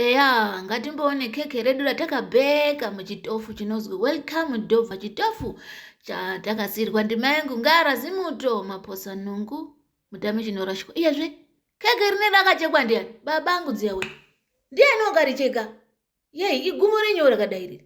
Eya ngatimboone keke redu ratakabheka muchitofu chinozwi welcome dova chitofu chatakasiirwa ndima yangu ngara zimuto maposa nungu mutame chinorashwa iyezve keke rine rakachekwa ndiani babangu dziyawe ndiani wakaricheka yei igumo renyu rakadai riri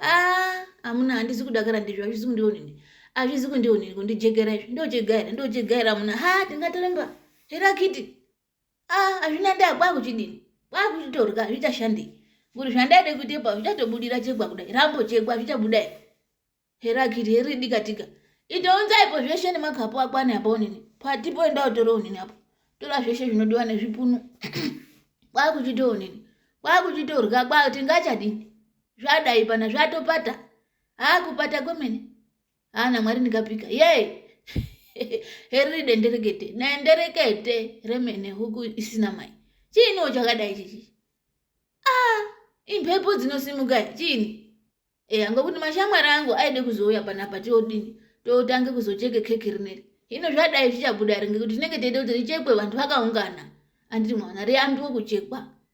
ah amuna handisi kudakara ndizvo hazvizi kundionini hazvizi kundionini kundijegera izvi ndochegaira ndochegaira amuna ha tingatoremba here akiti ah hazvina ndaa kwakuchidini kwakuchitorya zvichashandei kuti zvandaide kuitepa zvichatobudira chegwa kudai rambo chegwa zvichabuda here here akiti here dikatika itounzaipo zveshe nemakapu akwane apa onini patipo enda utore onini apo tora zveshe zvinodiwa nezvipunu kwakuchitoonini kwakuchitorya kwati ngachadini zvadai pana zvatopata haa kupata kwemene haa namwari ndikapika yee heriri denderekete denderekete remene huku isina mai chiiniwo chakadai chichi aa imhepo dzinosimuka chiini e anga kuti mashamwari angu aide kuzouya panapa tiodini totange kuzocheke keki rineri hino zvadai zvichabuda ringe kuti tinenge teide kuti richekwe vanhu vakaungana anditi mwana riyambiwe kuchekwa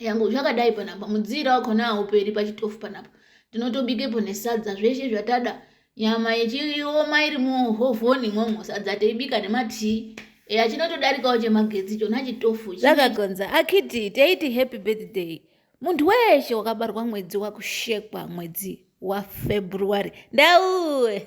yangu zvakadai panapa mudziira wakona hauperi pachitofu panapa tinotobikepo nesadza zveshe zvatada nyama yechioma iri muhovhoni imwomwo sadza teibika nematii eya chinotodarikawo chemagetsi chona chitofu zvakagonza akiti teiti happy birthday munhu weshe wakabarwa mwedzi wakushekwa mwedzi wafebruary ndauwe